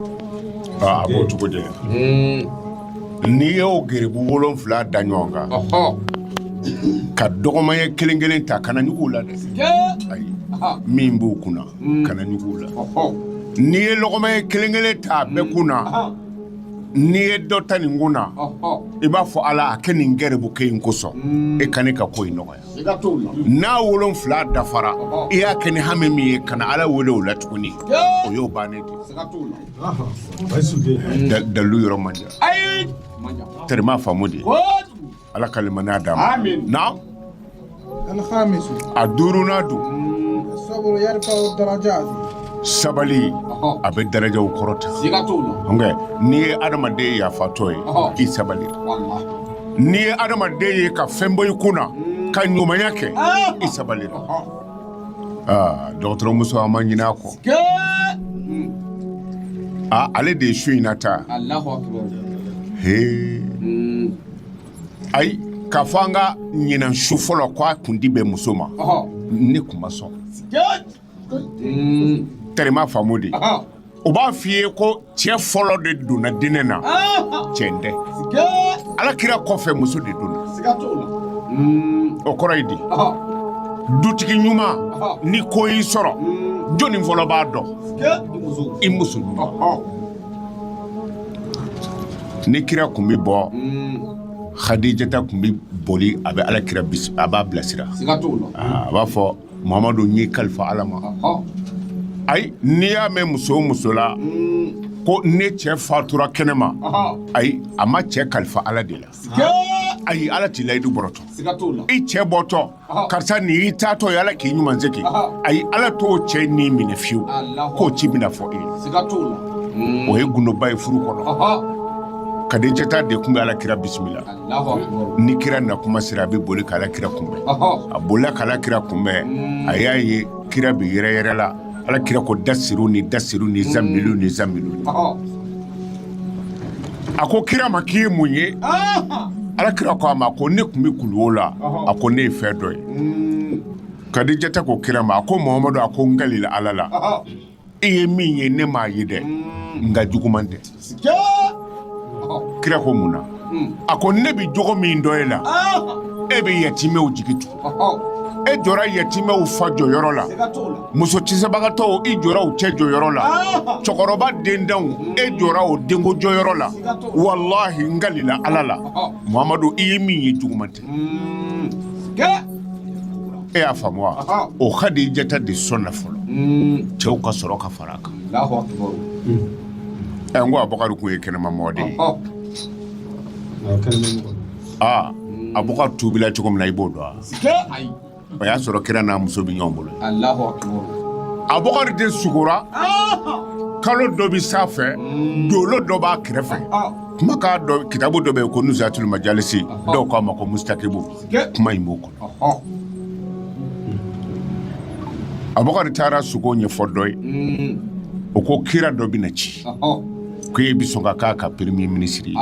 A b'o cogo de n'i y'o gɛrɛbu wolonwula da ɲɔgɔn kan ka dɔgɔma ye kelen kelen ta kana ɲugu la dɛ min b'o kun mm. kana ɲugu la n'i ye lɔgɔma ye kelen kelen ta a bɛ mm. kun na n'i ye dɔ ta nin kun na i b'a fɔ ala a kɛ nin gɛrɛbu kelen kosɔn mm. e ka ne ka ko in nɔgɔya n'a wolonwula dafara i y'a kɛ ni hami min ye kana ala wele o la tuguni o y'o bannen de dalilu yɔrɔ man terima faamu de ala ka limaniya d'a ma na a duurunan don sabali a bɛ darajaw kɔrɔta n'i ye adamaden yafatɔ ye k'i sabali n'i ye adamaden ye ka fɛn bɔ i kun na ka ɲumanya kɛ i sabali la aa dɔgɔtɔrɔmuso an ma ɲinɛ a kɔ aa ale de ye su in na ta hee ayi k'a fɔ an ka ɲinan su fɔlɔ ko a kundi bɛ muso ma ne tun ma sɔn terima faamu de o b'a fɔ i ye ko cɛ fɔlɔ de donna diinɛ na cɛ tɛ ala kira kɔfɛ muso de donna o kɔrɔ ye di dutigi ɲuman ni ko y'i sɔrɔ jɔnni fɔlɔ b'a dɔn i muso ɲuman ni kira tun bɛ bɔ hadijata tun bɛ boli a bɛ ala kira a b'a bilasira a b'a fɔ Muhamadu n y'i kalifa ala ma ayi n'i y'a mɛn muso o muso la ko ne cɛ fatura kɛnɛ ma ayi a ma cɛ kalifa ala de la ayi ala t'i layidu bɔrɔtɔ i cɛ bɔtɔ karisa nin y'i taatɔ ye ala k'i ɲuman segin ayi ala t'o cɛ ni minɛ fiyewu k'o ci bɛna fɔ e ye o ye gundoba ye furu kɔnɔ kadijata de tun bɛ ala kira bisimila ni kira na kuma sera a bɛ boli k'ala kira kunbɛn a bolila k'ala kira kunbɛn a y'a ye kira bɛ yɛrɛyɛrɛ la ala kira ko dasiruni dasiruni zamiluni zamilu a ko kira ma k'i ye mun ye ala kira ko a ma ko ne tun bɛ kuluwo la a ko ne ye fɛn dɔ ye kadijata ko kira ma a ko mamadu a ko n kalila ala la e ye min ye ne m'a ye dɛ mm. nka juguman tɛ kira ko mun na mm. a ko ne bɛ jogo min dɔn e la ah. e bɛ yatimɛw jigi tugu e jɔra yatimɛw fa jɔyɔrɔ la muso cɛsabagatɔw i jɔra u cɛ jɔyɔrɔ la ah. cɛkɔrɔba denntanw e jɔra o denkɛ jɔyɔrɔ la walahi n kalila ala la muhamadu i ye min ye juguman tɛ e y'a faamu wa o kadijata de sɔnna fɔlɔ cɛw ka sɔrɔ ka fara a kan ɛ n ko abubakari tun ye kɛnɛma mɔgɔ de ye aa abubakari tubila cogo min na i b'o dɔn wa o y'a sɔrɔ kira n'a muso bɛ ɲɔgɔn bolo abubakari de sugora kalo dɔ bɛ san fɛ dolo dɔ b'a kɛrɛfɛ kuma k'a dɔn kitabu dɔ bɛ yen ko nusatul majalisi dɔw k'a ma ko mustakibu kuma in b'o kɔnɔ abubakari taara sugo ɲɛfɔ dɔ ye mm. o ko kira dɔ bɛna ci ko e bɛ sɔn ka k'a ka premier ministre ye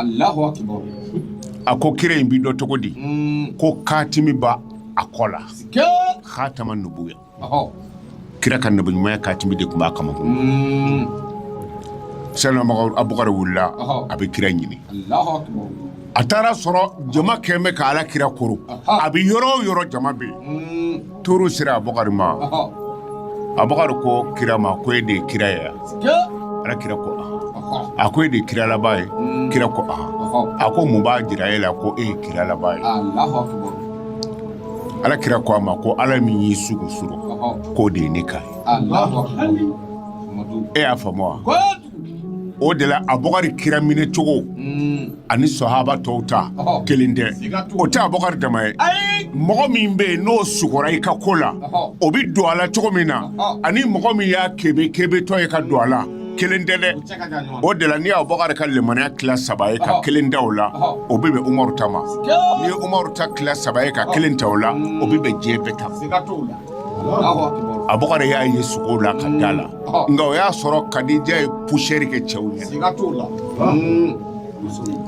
a ko kira in bɛ dɔn cogo di mm. ko katimi b'a a kɔ la hatama nubuya kira ka nabiɲumanya katimi de tun b'a kamankun mm. sayidina abukari wulila a bɛ kira ɲini a taara a sɔrɔ jama kɛlen bɛ ka ala kira koori a bɛ yɔrɔ o yɔrɔ jama bɛ yen mm. tour sera abukari ma abukari ko kira ma ko e de ye kira ye ala kira ko a ko e de ye kira laban ye mm. kira ko a ko mun b'a jira e la ko e ye kira laban ye ala kira ko a ma ko ala min y'i sugo surɔ k'o de ye ne kan e y'a faamu wa o de la abubakari kira minɛ cogo mm. ani sɔhaba tɔw ta kelen tɛ o tɛ abubakari dama ye mɔgɔ min bɛ yen n'o sugora i ka ko la o bɛ don a la cogo min na ani mɔgɔ min y'a kebe kebetɔ ye ka don a la kelen tɛ dɛ o de la n'i y'abubakari ka lemaniya tila saba ye ka kelen ta o la o bɛ bɛn umaru ta ma n'i ye umaru ta tila saba ye ka kelen ta o la o bɛ bɛn diɲɛ bɛɛ ta abubakari y'a ye sugo la ka da a la nka o y'a sɔrɔ kadija ye pusɛri kɛ cɛw ɲɛ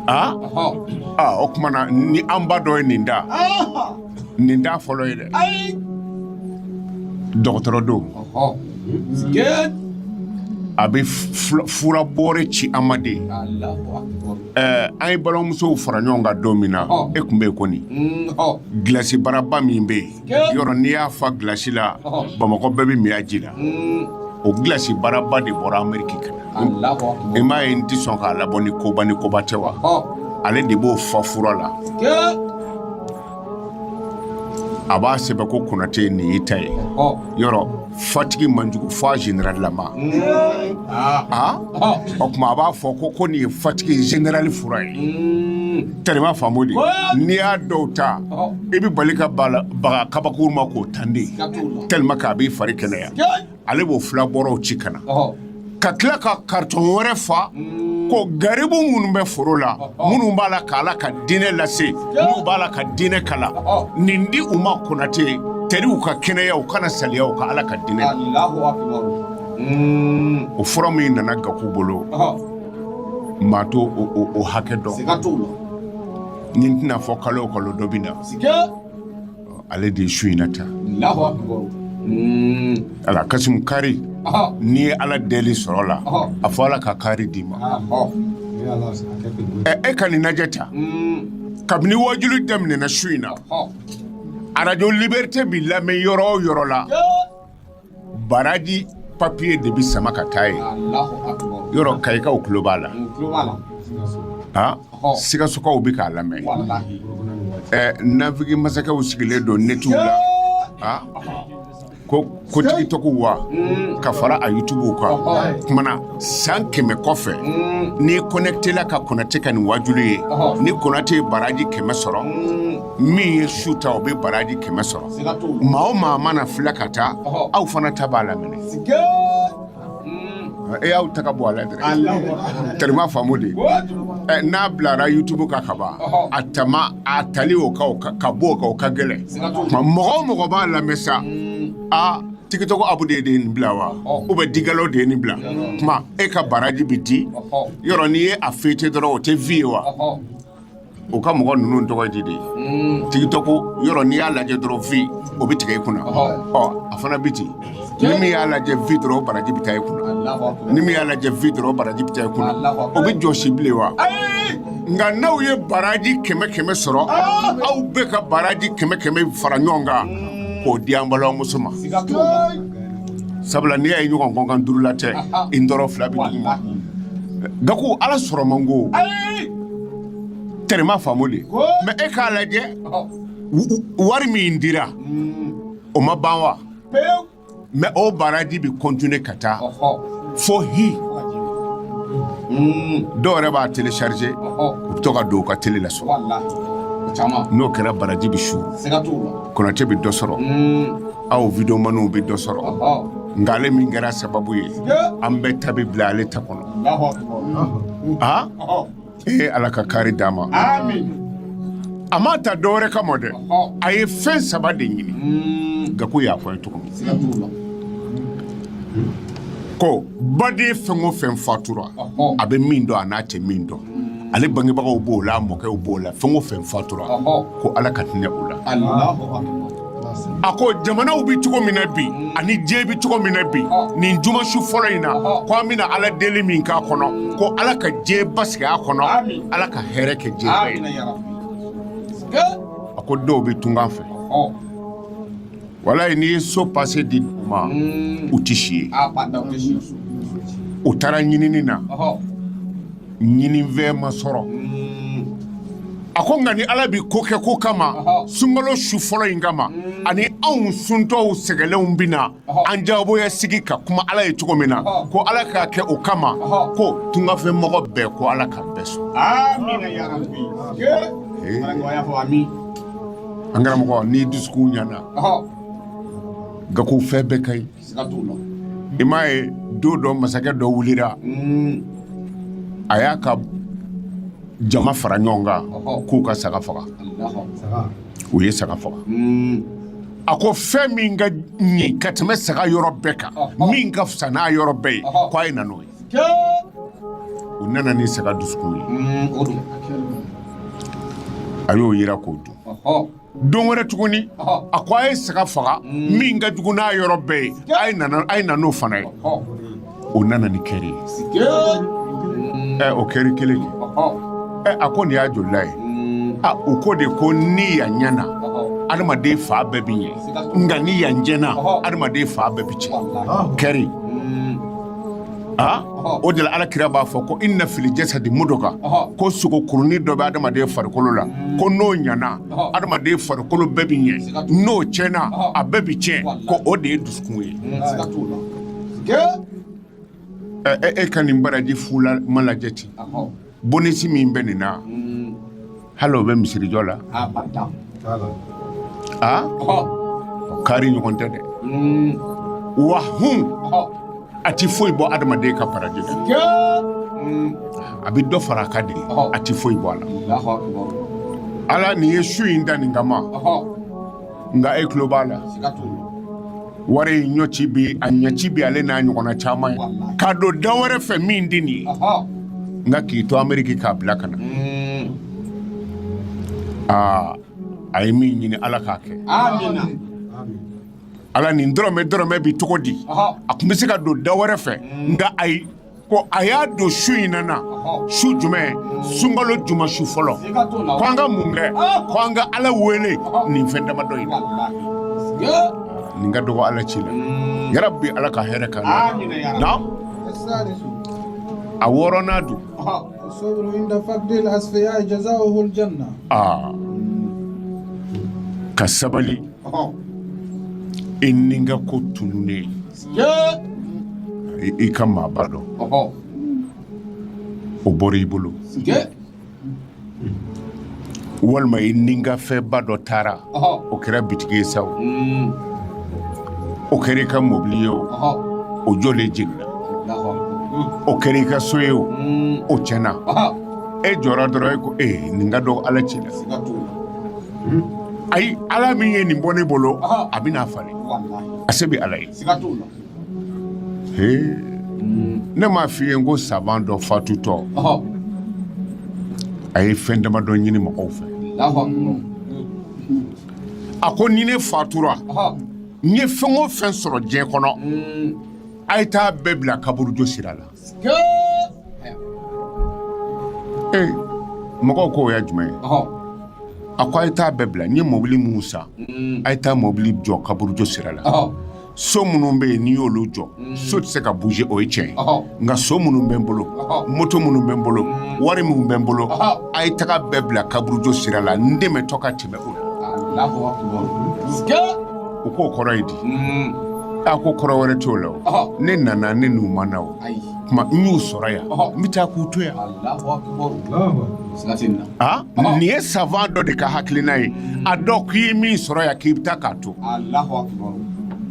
aa o tuma na ni an ba dɔ ye nin da nin t'a fɔlɔ ye dɛ ayi dɔgɔtɔrɔ don a bɛ fura bɔɔrɛ ci an ma de ye an ye balimamusow fara ɲɔgɔn kan don min na e tun bɛ yen kɔni gilasi baraba min bɛ yen yɔrɔ n'i y'a fa gilasi la bamakɔ bɛɛ bɛ min a ji la o gilasi baraba de bɔra ameriki ka na i m'a ye n tɛ sɔn k'a labɔ ni koba ni koba tɛ wa ale de b'o fa fura la a b'a sɛbɛn ko konate nin y'i ta ye yɔrɔ fatigi man jugu fo a generalilama a o tuma a b'a fɔ ko ko nin ye fatigi generali fura ye tellement faamu de n'i y'a dɔw ta i bɛ bali ka baga kabakuru ma k'o tan dɛ tellement k'a b'i fari kɛnɛya ale b'o fura bɔrɔw ci ka na ka tila ka karitɔn wɛrɛ fa mm. ko garibu minnu bɛ foro la minnu b'a la ka ala ka diinɛ lase minnu b'ala ka diinɛ kalan nin di u ma konate teri u ka kɛnɛya u kana saliya u ka ala ka diinɛ mm. o fura min nana gaku bolo maa t'o hakɛ dɔn nin tɛna fɔ kalo o kalo dɔ bɛ na ale de ye su in na ta ala kasi kari n'i ye ala deli sɔrɔ la a fɔ ala ka kari d'i ma e ka nin lajɛ ta kabini waajuli daminɛna su in na arajo libɛrite bɛ lamɛn yɔrɔ o yɔrɔ la baraji papiye de bɛ sama ka taa ye yɔrɔ kayikaw tulo b'a la sikasokaw bɛ k'a lamɛn nawige masakɛw sigilen don netiw la ko ko tigitɔgɔ wa mm. ka fara a yutubuw kan o tuma na san kɛmɛ kɔfɛ mm. ni kɔnɛkitela ka konate ka nin waajuli ye ni konate ye baraji kɛmɛ sɔrɔ mm. min ye su ta o bɛ baraji kɛmɛ sɔrɔ maa o maa mana filɛ ka taa aw fana ta b'a la mɛ ne y'aw ta bɔ a la dɛ tɛrɛ m'a faamu de n'a bilara yutubu kan ka ban a tama a tali o ka bɔ o ka o ka gɛlɛn mɔgɔ o mɔgɔ b'a lamɛn sa aa tigitɔgɔ abu de ye de nin bila wa u bɛ digalaw de ye nin bila tuma e ka baraji bɛ di yɔrɔ n'i ye a fete dɔrɔn o tɛ vi ye wa u ka mɔgɔ ninnu tɔgɔ di de tigitɔgɔ yɔrɔ n'i y'a lajɛ dɔrɔn vi o bɛ tigɛ i kunna ɔ a fana bɛ ten ni min y'a lajɛ vi dɔrɔn baraji bɛ taa i kunna ni min y'a lajɛ vi dɔrɔn baraji bɛ taa i kunna o bɛ jɔsi bilen wa nka n'aw ye baraji kɛmɛ kɛmɛ sɔrɔ aw bɛɛ ka baraji kɛmɛ kɛmɛ fara ɲɔgɔn kan k'o di an balimamuso ma sabula n'i y'a ye ɲɔgɔn kɔnkan duurulatɛ i dɔrɔn fila bɛ duguma ga ala sɔrɔ man ko tɛrɛ m'a faamu de mɛ e k'a lajɛ wari min dira o ma ban wa mɛ o baraji bɛ kɔntinye ka taa fo h dɔw yɛrɛ b'a telesarize u b'a to ka don u ka tele la so n'o kɛra baraji bɛ su konate bɛ dɔ sɔrɔ aw wideyomaniw bɛ dɔ sɔrɔ nka ale min kɛra sababu ye an bɛɛ ta bɛ bila ale ta kɔnɔ aa ee ala ka kari d'a ma a m'a ta dɔwɛrɛ kama dɛ a ye fɛn saba de ɲini mm. gaku y'a fɔ ye cogo min ko baden fɛn o fɛn fatura a bɛ min dɔn ani a tɛ min dɔn mm. ale bangebagaw b'o la a mɔkɛw b'o la fɛn o fɛn fatura ko ala ka hinɛ u la a ko jamanaw bɛ cogo min na bi ani diɲɛ bɛ cogo min na bi nin juma su fɔlɔ in na ko an bɛna ala deli min k'a kɔnɔ ko ala ka diɲɛ basigi a kɔnɔ ala ka hɛrɛ kɛ diɲɛ ye a ko dɔw bɛ tunga fɛ walayi n'i ye so pase di u ma u tɛ si yen u taara ɲinini na ɲininifɛn ma sɔrɔ a ko nka ni ala bɛ ko kɛ ko kama sunkalo su fɔlɔ in kama ani anw suntɔw sɛgɛnlenw bɛ na an jagoya sigi ka kuma ala ye cogo min na ko ala k'a kɛ o kama ko tunga fɛ mɔgɔ bɛɛ ko ala ka bɛɛ sɔn an karamɔgɔ n'i dusukun ɲana nka ko fɛn bɛɛ ka ɲi i m'a ye don dɔ masakɛ dɔ wulila a y'a ka jama fara ɲɔgɔn kan k'u ka saga faga u ye saga faga a ko fɛn min ka ɲi ka tɛmɛ saga yɔrɔ bɛɛ kan min ka fisa n'a yɔrɔ bɛɛ ye ko a ye na n'o ye u nana ni saga dusukun ye a y'o jiran k'o dun don wɛrɛ tuguni a ko a ye saga faga mm. min ka jugu n'a yɔrɔ bɛɛ ye a ye na n'o fana ye o nana ni kɛri ye ɛ o kɛri kelen ye ɛ a ko nin y'a jolila ye mm. a o ko de ko ni yan ɲɛna adamaden fan bɛɛ bɛ ɲɛ nka ni yan tiɲɛna adamaden fan bɛɛ bɛ tiɲɛ kɛri mm. aa o de la ala kira b'a fɔ ko inna fil jasadi mudgha ko sogo kurunin dɔ bɛ adamaden farikolo la ko n'o ɲana adamaden farikolo bɛɛ bɛ ɲɛ n'o tiɲɛna a bɛɛ bɛ tiɲɛ ko o de ye dusukun ye e ka nin baraji fu ma lajɛ ten Bonus min bɛ nin na hali o bɛ misiri jɔ la aa kari ɲɔgɔn tɛ dɛ wa h a tɛ foyi bɔ adamaden ka baraji a bɛ dɔ fara a kan de a tɛ foyi bɔ a la ala nin ye su in dan nin kama ma nka e tulo b'a la wari in ɲɛci bi a ɲɛci bi ale n'a ɲɔgɔnna caman ye k'a don da wɛrɛ fɛ min tɛ nin ye nka k'i to ameriki k'a bila ka na hmm. aa a ye min ɲini ala k'a kɛ ala nin dɔrɔmɛ dɔrɔmɛ bi cogo di a tun bɛ se ka don da wɛrɛ fɛ hmm. nka ayi ko a y'a don su in na na su jumɛn sunkalo juma su fɔlɔ ko an ka mun kɛ ko an ka ala wele nin fɛn damadɔ in na nin ka dɔgɔ ala ci la yɛrɛ bi ala ka hɛrɛ k'an na a wɔɔrɔnan don ka sabali i nikanko tununnen i ka maaba dɔ o bɔra i bolo walima i nikanfɛnba dɔ taara o kɛra bitigi ye sa o mm. o kɛra i ka mɔbili ye o o jɔlen jiginna o kɛra i ka so ye o mm. o tiɲɛna e jɔra dɔrɔn e ko ee nin ka dɔgɔ ala cɛ la ayi ala min ye nin bɔ ne bolo a bɛ n'a falen a se bɛ ala ye ne m'a f'i ye n ko savant dɔ fatutɔ a ye fɛn damadɔ ɲini mɔgɔw fɛ a ko ni ne fatura n ye fɛn o fɛn sɔrɔ diɲɛ kɔnɔ a ye taa bɛɛ bila kaburudo sira la Mɔgɔw ko o ye jumɛn ye a ko a ye taa bɛɛ bila n ye mɔbili minnu san a ye taa mɔbili jɔ kaburudo sira la so minnu bɛ yen n'i y'olu jɔ so tɛ se ka bouger o ye tiɲɛ ye nka so minnu bɛ n bolo moto minnu bɛ n bolo wari minnu bɛ n bolo a ye taga bɛɛ bila kaburudo sira la n tɛmɛtɔ k'a ye U k'o kɔrɔ ye di a ko kɔrɔ wɛrɛ t'o la ne nana ne n'u ma na o tuma n y'u sɔrɔ yan n bɛ taa k'u to yan nin ye savant dɔ de ka hakiliina ye a dɔn k'i ye min sɔrɔ yan k'i bɛ taa k'a to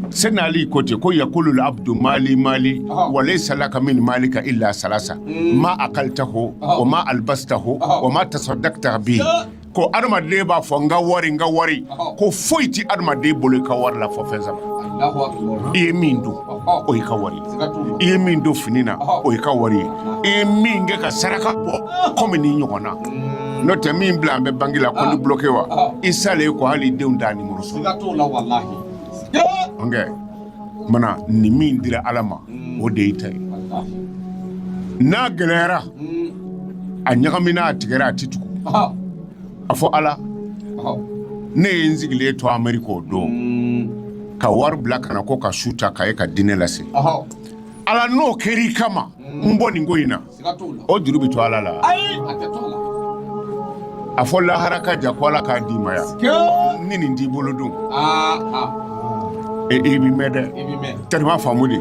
sɛnɛ ali ko ten ko yakulu labdu mali mali wa layisa laka min malika ila salasa ma akalitahu wa ma alibasitahu wa ma tasadakita bihi ko adamaden b'a fɔ n ka wari n ka wari ko foyi tɛ adamaden bolo i ka wari la fo fɛn saba i ye min dun o y'i ka wari i ye min don fini na o y'i ka wari ye i ye min kɛ ka saraka bɔ kɔmi nin ɲɔgɔnna n'o tɛ min bilalen bɛ banki la compte bloqué wa i salen kɔ hali i denw t'a nimoro sɔrɔ. tuma na ni min dira ala ma o de y'i ta ye n'a gɛlɛyayara a ɲagamina a tigɛra a tɛ tugu a fɔ ala ne ye n sigilen to amerika o don ka wari bila ka na ko ka su ta ka e ka diinɛ lase ala n'o kɛr'i kama n bɔ nin ko in na O juru bɛ to ala la a fɔ lahara ka jan ko ala k'a d'i ma yan ni nin t'i bolo don i bɛ mɛn dɛ teri m'a faamu de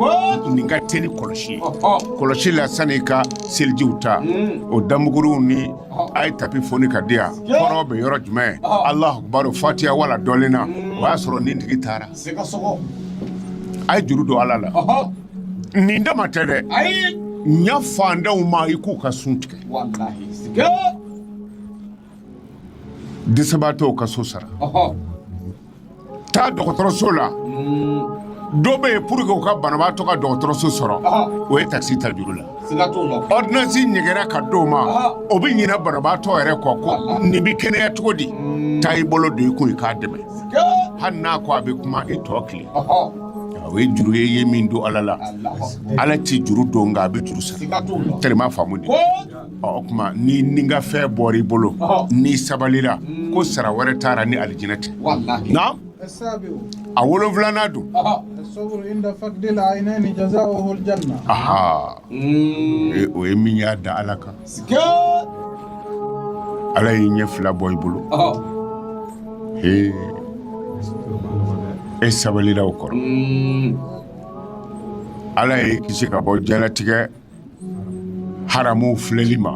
nin ka teli kɔlɔsi kɔlɔsi la sani ka selijiw ta o damuguru ni a ye tapi foni ka di yan kɔrɔn bɛ yɔrɔ jumɛn alahu akibaru fatiya waladɔlina o y'a sɔrɔ nin tigi taara a ye juru don ala la Nin dama tɛ dɛ ɲa faantanw ma i k'u ka sun tigɛ dɛsɛbaatɔw ka so sara taa dɔgɔtɔrɔso la dɔ bɛ yen pour que u ka banabaatɔ ka dɔgɔtɔrɔso sɔrɔ o ye takisi ta juru la ɔridɔnansi ɲɛgɛra ka d'o ma o bɛ ɲina banabaatɔ yɛrɛ kɔ ko nin bɛ kɛnɛya cogo di taa i bolo don i kun i k'a dɛmɛ hali n'a ko a bɛ kuma i tɔ tile o ye juru ye i ye min don ala la ala tɛ juru don nka a bɛ juru sara teri m'a faamu de o tuma ni nikanfɛn bɔr'i bolo n'i sabalira ko sara wɛrɛ t'a ra ni alijinɛ tɛ a wolonwulanan don o ye min y'a da ala kan Ala y'i ɲɛ fila bɔ i bolo e sabalila o kɔrɔ mm. ala y'i kisi ka bɔ jalatigɛ haramu filɛli ma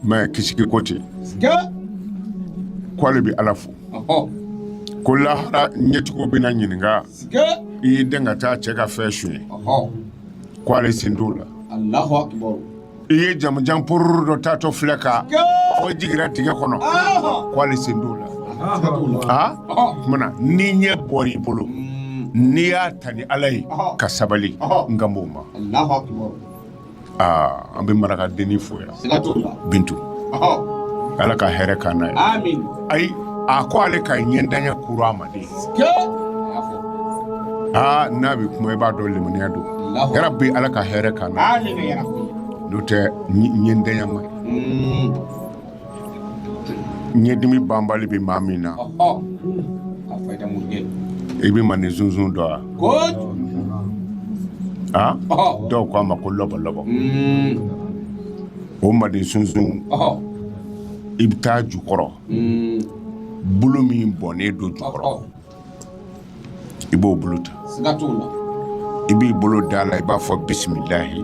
mɛ kisi ko ten ko ale bɛ ala fo ko lahara ɲɛtigiw bɛna ɲininka i y'i den ka taa cɛ ka fɛn su ye ko ale sen t'o la i ye jamanjan pororo dɔ taatɔ filɛ ka fɔ jigira tigɛ kɔnɔ ko ale sen t'o la o tuma na ni ɲɛ bɔra i bolo n'i y'a ta ni ala ye ka sabali n kan b'o ma aa an bɛ marakadenni fo yan bintu ala ka hɛrɛ k'an na ye ayi a ko ale ka ɲɛntanya kura a ma aa n'a bɛ kuma i b'a dɔn limaniya don yɛrɛ bɛ ala ka hɛrɛ k'an na n'o tɛ ɲɛntanya ma ɲɛdimi banbali bɛ maa min na i bɛ mandensunsun dɔn wa a dɔw ko a ma ko lɔbɔ lɔbɔ o mandensunsun i bɛ taa a jukɔrɔ bulu min bɔnnen don jukɔrɔ i b'o bulu ta i b'i bolo da a la i b'a fɔ bisimilayi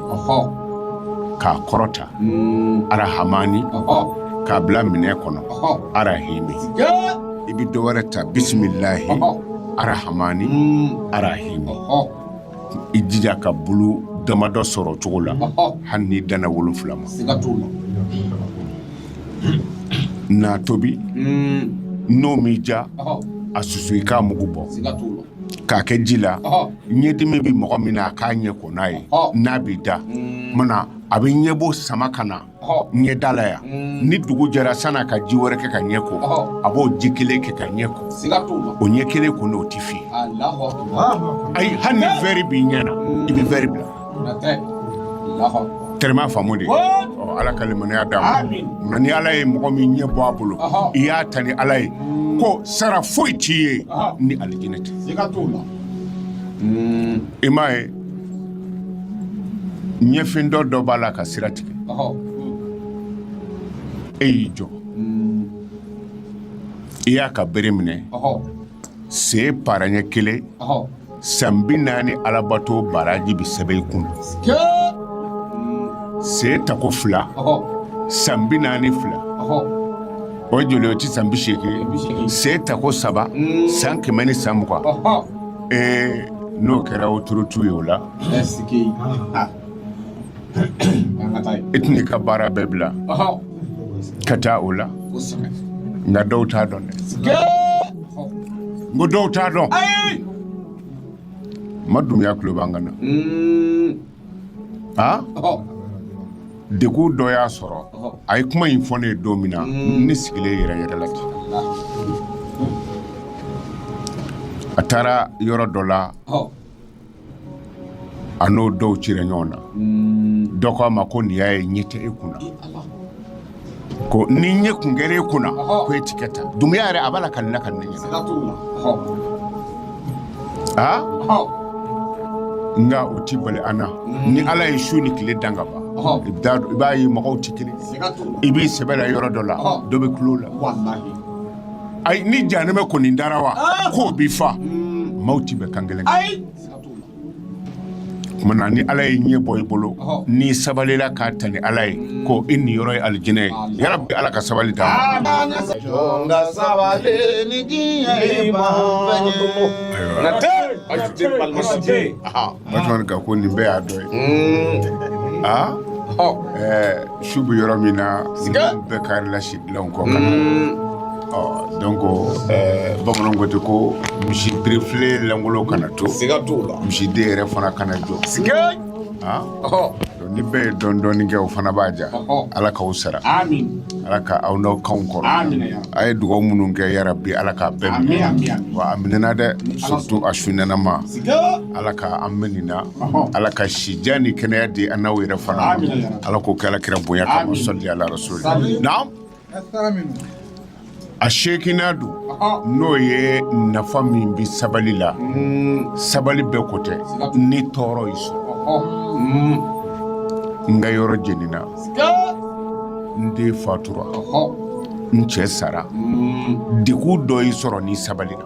k'a kɔrɔta hmm. arahamani k'a bila minɛn kɔnɔ arahimi i bɛ dɔ wɛrɛ ta bisimilayi arahamani hmm. arahimi i jija ka bulu damadɔ sɔrɔ cogo la hali n'i danna wolonfila ma na tobi n'o m'i ja a susu i k'a mugu bɔ k'a kɛ ji la ɲɛdimi bɛ mɔgɔ min na a k'a ɲɛ ko n'a ye n'a b'i da na a bɛ ɲɛbo sama ka na ɲɛ da la yan ni dugu jɛra sani a ka ji wɛrɛ kɛ k'a ɲɛ ko a b'o ji kelen kɛ k'a ɲɛ ko o ɲɛ kelen ko n'o tɛ fiyɛn ayi hali ni vɛri b'i ɲɛ na i bɛ vɛri bila tellement faamu de ala ka limaniya d'an ma nka ni ala ye mɔgɔ min ɲɛ bɔ a bolo i y'a ta ni ala ye ko sara foyi t'i ye ni alijinɛ tɛ i m'a ye ɲɛfin dɔ dɔ b'a la ka sira tigɛ e y'i jɔ i y'a ka bere minɛ sen paranye kelen san bi naani alabato baraji bɛ sɛbɛn i kun sen ta ko fila san bi naani fila o ye joli ye o tɛ san bi seegin sen ta ko saba mm. san kɛmɛ ni san mugan ee n'o kɛra o turutu ye o la i tɛna i ka baara bɛɛ bila ka taa o la nka dɔw t'a dɔn dɛ n ko dɔw t'a dɔn ma dunya tulo b'an kan na a degu dɔ y'a sɔrɔ a ye kuma in fɔ ne ye don min na ne sigilen yɛrɛ yɛrɛ la ten a taara yɔrɔ dɔ la A n'o dɔw ci ɲɔgɔn na dɔ ko a ma ko n'i y'a ye ɲɛ tɛ e kun ko ni ɲɛ kun kelen e kun ko e tɛ ta dunya yɛrɛ a b'a la ka la ka ne aa nka o tɛ bala an na ni ala ye su ni tile dan kaban i b'a ye mɔgɔw tɛ kelen i b'i sɛbɛ la yɔrɔ dɔ la dɔ bɛ tulon la ayi ni jahanama kɔni dara wa k'o bɛ fa maaw tɛ bɛn kan kelen ayi tuma ni ala ye ɲɛ bɔ i bolo n'i sabalila k'a ta ni ala ye ko i niyɔrɔ ye alijinɛ ye yarabi ala ka sabali d'an ma Batman ka ko nin bɛɛ y'a dɔ ye aa su bɛ yɔrɔ min na bɛɛ karila si bila kɔ dɔn ko bamanan ko tɛ ko misi birila lankolon kana to seiga to la misi den yɛrɛ fana kana jɔ ni bɛɛ ye dɔɔnin dɔɔnin kɛ o fana b'a diya ala k'aw sara ala ka aw n'aw kan kɔrɔ a ye dugaw minnu kɛ yɛrɛ bi ala k'a bɛɛ wa a minɛɛna dɛ sotu a sunɛma ala ka an mɛn nin na ala ka sijan ni kɛnɛya di an n'aw yɛrɛ fana ala k'o kɛ kira bonya kama salli ala rasul na a seeginnan don n'o ye nafa min bɛ sabali la mm. sabali bɛɛ ko tɛ ni tɔɔrɔ y'i sɔrɔ mm. n ka yɔrɔ jenina n den fatura n cɛ sara mm. degun dɔ y'i sɔrɔ n'i sabalila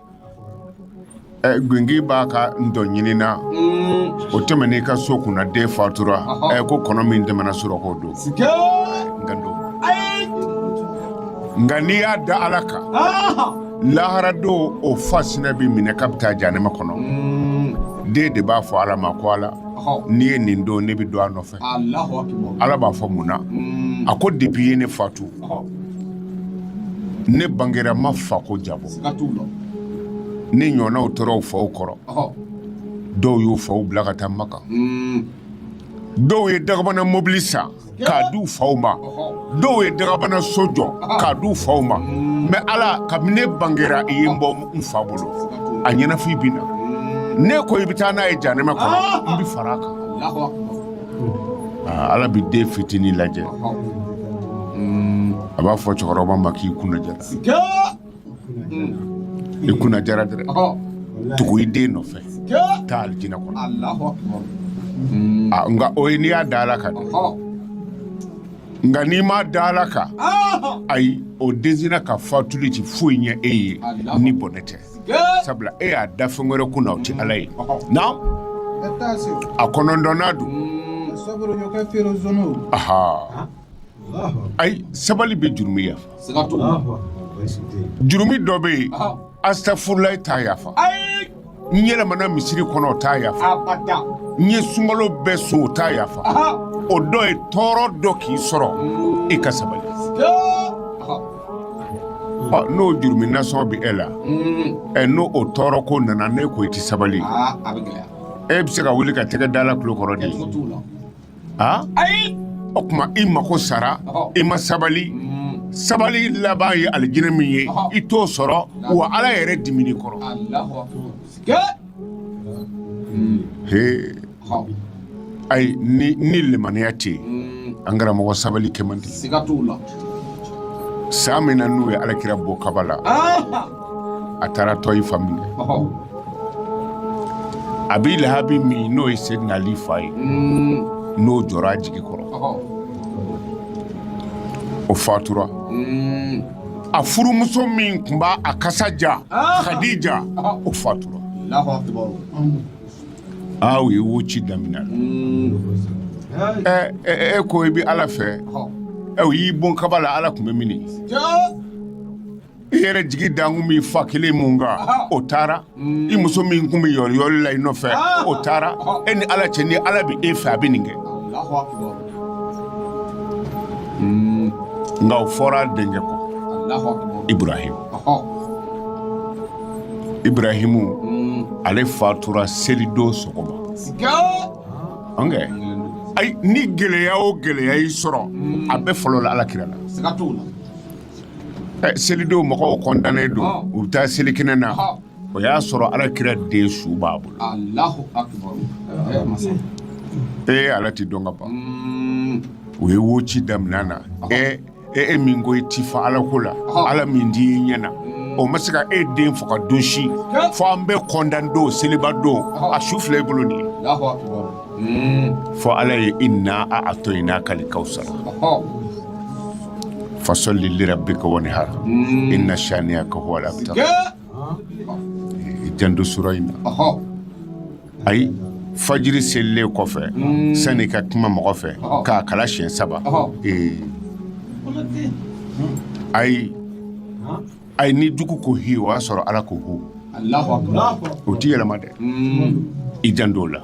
Gingin b'a ka ntɔn ɲinin na o tɛmɛnen i ka so kunna den fatura i ko kɔnɔ min tɛmɛna surɔ o don nka n'i y'a da ala kan laharadon o fa sini a bɛ minɛ k'a bɛ taa jahanama kɔnɔ den de b'a fɔ ala ma ko ala n'i ye nin don ne bɛ don a nɔfɛ ala b'a fɔ mun na a ko de b'i ye ne fatu ne bangera ma fa ko diyabɔ ne ɲɔgɔnw tora u faw kɔrɔ dɔw y'u faw bila ka taa makan dɔw ye dakabana mɔbili san k'a di u faw ma dɔw ye dakabana so jɔ k'a di u faw ma mɛ ala kabi ne bangera i ye n bɔ n fa bolo a ɲɛnafin bɛ n na n'e ko i bɛ taa n'a ye jahanama kɔnɔ n bɛ fara a kan ah, ala bɛ den fitinin lajɛ hmm, a b'a fɔ cɛkɔrɔba ma k'i kunna diyara i kunna diyara dɛ tugu i den nɔfɛ taa alijinɛ kɔnɔ ah, nka o ye n'i y'a da ala kan nka n'i m'a da ala kan ayi o densina ka fatuli ti foyi ɲɛ e ye ni bɔnɛ tɛ sabula e y'a da fɛn wɛrɛ kunna o ti ala ye na a kɔnɔntɔnnan don ayi sabali bɛ jurumu yafa jurumu dɔ bɛ yen astafurulayi t'a yafa n yɛlɛmana misiri kɔnɔ o t'a yafa n ye sunkalo bɛɛ sun o t'a yafa o dɔ ye tɔɔrɔ dɔ k'i sɔrɔ i ka sabali n'o jurumu nasɔn bɛ e la ɛ n'o o tɔɔrɔ ko nana ne ko i tɛ sabali e bɛ se ka wuli ka tɛgɛ da ala tulo kɔrɔ de a ayi o tuma i mako sara i ma sabali sabali laban ye alijinɛ min ye i t'o sɔrɔ wa ala yɛrɛ dimina i kɔrɔ ayi ni ni limaniya tɛ yen an karamɔgɔ sabali kɛ man di san min na n'u ye ala kira bon kaba la a taara tayifa min na abi lahabi min n'o ye seyidina ali fa ye n'o jɔra a jigi kɔrɔ o fatura a furumuso min tun b' a kasa diya kadija o fatura aw ye woci daminɛ a la e ko i bɛ ala fɛ aw y'i bon kaba la ala tun bɛ min i yɛrɛ jigi dalen tun b'i fa kelen min kan o taara i muso min tun bɛ yoliyoli la i nɔfɛ o taara e ni ala cɛ ni ala bɛ e fɛ a bɛ nin kɛ nka o fɔra den de ko ibrahim ibrahimu ale fatura selidon sɔgɔma ɔnkɛ ayi ni gɛlɛya o gɛlɛya y'i sɔrɔ a bɛɛ fɔlɔla ala kira la ɛ selidon mɔgɔw kɔntannen don u bɛ taa selikɛnɛ na o y'a sɔrɔ ala kira den su b'a bolo ee ala tɛ dɔn ka ban u ye woci daminɛ a na ee e e min ko i ti fa ala ko la ala min di i ɲɛna o ma se ka e den faga don si fo an bɛ kɔntan don seliba don a su filɛ i bolo nin ye fo ala ye inna aatoyinakali kawsara fasɔli lirabika wanihar inna saniyaka huwal abtar i janto sura in na ayi fajiri selilen kɔfɛ hmm. sani ka kuma mɔgɔ fɛ k'a kalan siɲɛ saba ee ayi ayi ni jugu ko hi o y'a sɔrɔ ala ko hu o ti yɛlɛma dɛ hmm. i janto o la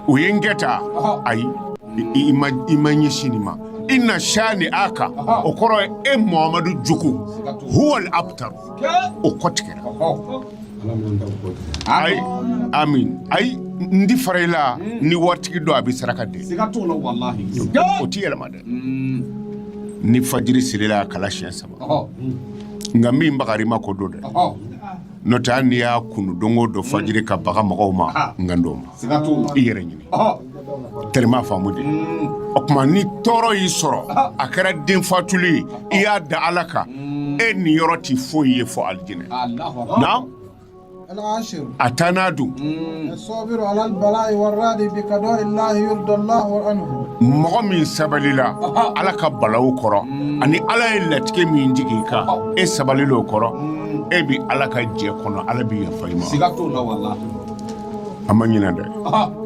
o ye n kɛ ta ayi i ma ɲɛsin nin ma inna shaniaka o kɔrɔ ye e mohamadu jugu huwal abtar o kɔ tigɛra ayi amin ayi n ti fara i la ni waritigi don a bɛ saraka di o ti yɛlɛma dɛ ni fajiri selila a kalan siɲɛ saba nka min bagara i ma ko don dɛ n'o tɛ hali n'i y'a kunu don o don fajiri ka baga mɔgɔw ma n ka don o ma i yɛrɛ ɲini tma faamu de o tuma ni tɔɔrɔ y'i sɔrɔ a kɛra den fatulen ye i y'a da ala kan e niyɔrɔ tɛ foyi ye fo alijinɛ a taa n'a don mɔgɔ min sabalila ala ka balawu kɔrɔ ani ala ye latigɛ min jigin i kan e sabalila o kɔrɔ e bɛ ala ka jɛ kɔnɔ ala bɛ yafa i ma a ma ɲinɛ dɛ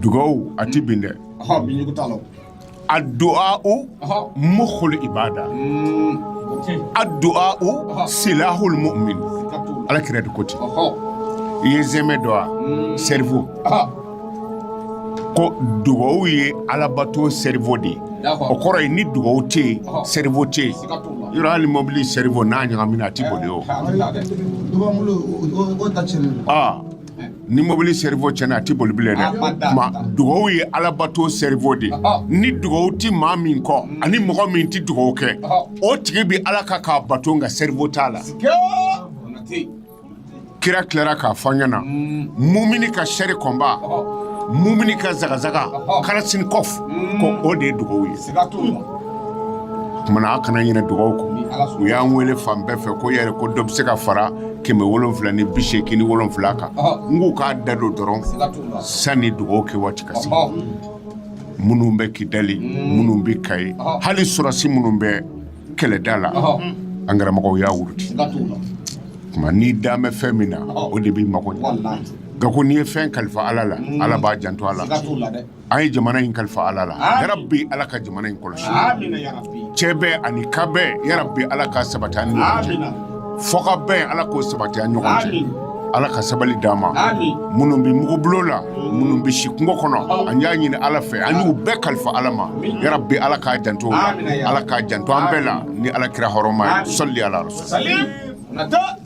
dugawu a tɛ bin dɛ aduwawu mukul ibada aduwawu silahul mumin ala kira de ko ten i ye sɛmɛ dɔn wa cerveau ko dugawu ye alabato cerveau de ye o kɔrɔ ye ni dugawu tɛ yen cerveau tɛ i rɔ hali mɔbili cerveau n'a ɲagamina a tɛ boli o ni mɔbili cerveau cɛnna a tɛ boli bilen dɛ o tuma dugawu ye alabato cerveau de ni dugawu tɛ maa min kɔ mm. ani mɔgɔ min tɛ dugawu kɛ o tigi bɛ ala ka k'a bato nka cerveau t'a la kira tilara k'a fɔ an ɲɛna mm. mumini ka char combat mumini ka zagazaga kalachnikov mm. ko o de ye dugawu ye o tuma na a kana ɲinɛ dugawu kɔ u y'an wele fan bɛɛ fɛ ko yɛrɛ ko dɔ bɛ se ka fara kɛmɛ wolonwula ni bi seegin ni wolonwula kan n k'u k'a da don dɔrɔn sanni dugawu kɛ waati ka se minnu bɛ kidali mm. minnu bɛ kayi hali sɔrɔdasi minnu bɛ kɛlɛda la an karamɔgɔw y'a wurudi tuma n'i dan bɛ fɛn min na o de b'i mago ɲɛ nka ko n'i ye fɛn kalifa ala la mm. ala b'a janto a la an ye jamana in kalifa ala la yarabi ala ka jamana in kɔlɔsi cɛ bɛ ani ka bɛ yarabi ala ka sabali ni fɔkabɛn ala k'o sabati an ɲɔgɔn cɛ ala ka sabali d' an ma minnu bɛ mugubolo la minnu bɛ si kungo kɔnɔ an y'a ɲini ala fɛ an y'u bɛɛ kalifa ala ma yarabi ala k'a janto ala k'a janto an bɛɛ la ni ala kira hɔrɔma ye sɔli ala nata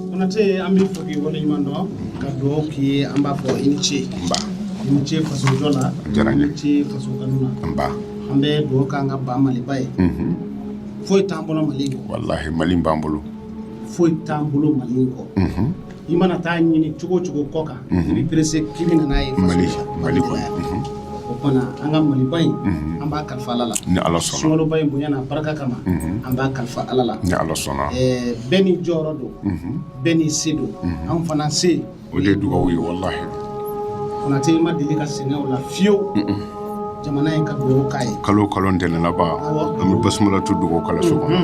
konate an b'i fo k'i waleɲuman dɔn ka dugawu k'i ye an b'a fɔ i ni ce nba i ni ce faso jɔ la a diyara n ye i ni ce faso kanu na nba an bɛ dugawu k'an ka ba maliba ye mhm. foyi t'an bolo mali kɔ walahi mali b'an bolo foyi t'an bolo mali kɔ mhm. i mana taa a ɲini cogo o cogo kɔkan i bɛ perese k'i bɛ na n'a ye mali mali kɔnɔ o kɔnɔ an ka maliba in an b'a kalifa ala la ni ala sɔnna sunkaloba in bonya n'a barika kama an b'a kalifa ala la ni ala sɔnna bɛɛ ni jɔyɔrɔ don bɛɛ ni se don an fana se o de ye dugawu ye walahi konate i ma deli ka sɛgɛn o la fiyewu jamana ye ka dugawu k'a ye kalo kalo ntɛnɛn laban an bɛ basumala tu dugawu kalanso kɔnɔ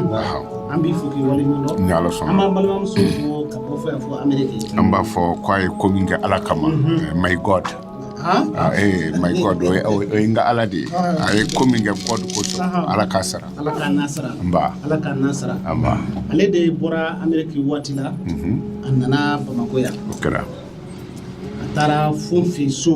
an b'i fo k'i wale ɲuman dɔn ni ala sɔnna an b'an balimamuso fo ka bɔ fo yan fo ameriki an b'a fo k'a ye ko min kɛ ala kama eh, my god Ah, eh, my god o ye- o ye o ye n ka ala de ye a ye ko min kɛ god kosɔn ala k'a sara ala k'a nasara nba ala k'a nasara nba ale de bɔra ameriki waati la a nana bamakɔ yan o kɛra a taara fo n fɛ yen so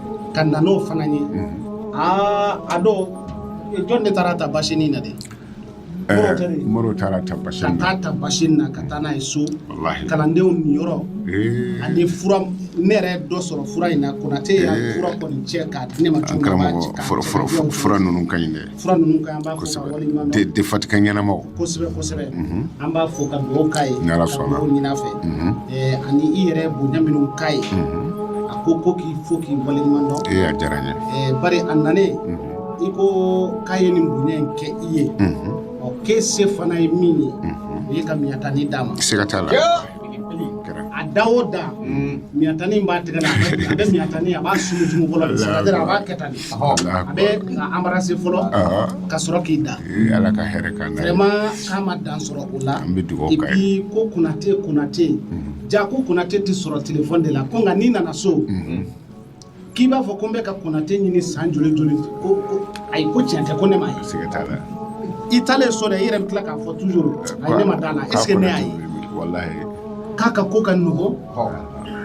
ka na n'o fana ye aa a dɔw jɔn de taara ta basini na de mori taara ta basi ka taa ta basi na ka taa n'a ye so kalandenw niyɔrɔ ani fura ne yɛrɛ dɔ sɔrɔ fura in na konatɛ y'a fura kɔni cɛ k'a di ne ma cogo fura ninnu ka ɲi dɛ Fura ninnu ka ɲi, an b'a fo k'a wale ɲuman dɔn, denfatigiya ɲɛnamaw, kosɛbɛ kosɛbɛ, unhun, an b'a fo ka dugawu k'a ye, ni Ala sɔnna, ka dugawu ɲini a fɛ, unhun, ɛɛ ani i yɛrɛ bonya minnu k'a ye, unhun, a ko ko k'i fo k'i wale ɲuman dɔn, ee a diyara n ye, ɛɛ bari a nalen, unhun, i ko k'a ye nin bonya in kɛ i ye, unhun, ɔ k'e se fana ye min ye, unhun, n'o ye ka miɲatani d'a ma, siga t'a la. a da o da miɲatani b'a tɛgɛ la a bɛ miɲatani a b'a sumusumu fɔlɔ a b'a kɛ tan a b'a anbarase fɔlɔ ka sɔrɔ k'i da vraiment k'a ma dan sɔrɔ o la et puis ko konatɛ konatɛ ja ko konatɛ tɛ sɔrɔ telefɔni de la ko nka n'i nana so k'i b'a fɔ ko n bɛ ka konatɛ ɲini san joli joli ko ko ayi ko tiɲɛ tɛ ko ne m'a ye siga t'a la i taalen so dɛ i yɛrɛ bɛ tila k'a fɔ toujours ayi ne ma d'a la est ce que ne y'a ye walahi k'a ka ko ka nɔgɔn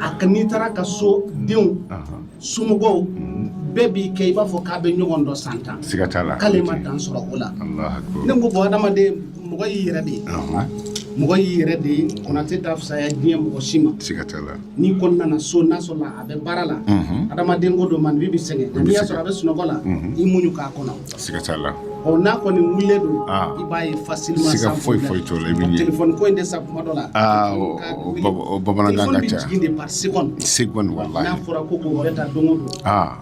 a ka n'i taara a ka so denw somɔgɔw bɛɛ b'i kɛ i b'a fɔ k'a bɛ ɲɔgɔn dɔn san tan siga t'a la k'ale ma dan sɔrɔ o la ne ko bon adamaden mɔgɔ y'i yɛrɛ de ye mɔgɔ y'i yɛrɛ de ye konatɛ t'a fisaya diɲɛ mɔgɔ si ma n'i kɔni nana so n'a sɔrɔla a bɛ baara la adamaden ko don maa bɛɛ bɛ sɛgɛn n'i y'a sɔrɔ a bɛ sunɔgɔ la i muɲu k'a kɔnɔ ɔ n'a kɔni wilila dɔrɔn i b'a ye facilement fo telefɔni ko in de sa kuma dɔ la bamanankan ka ca se se n'a fɔra ko bɛ taa don don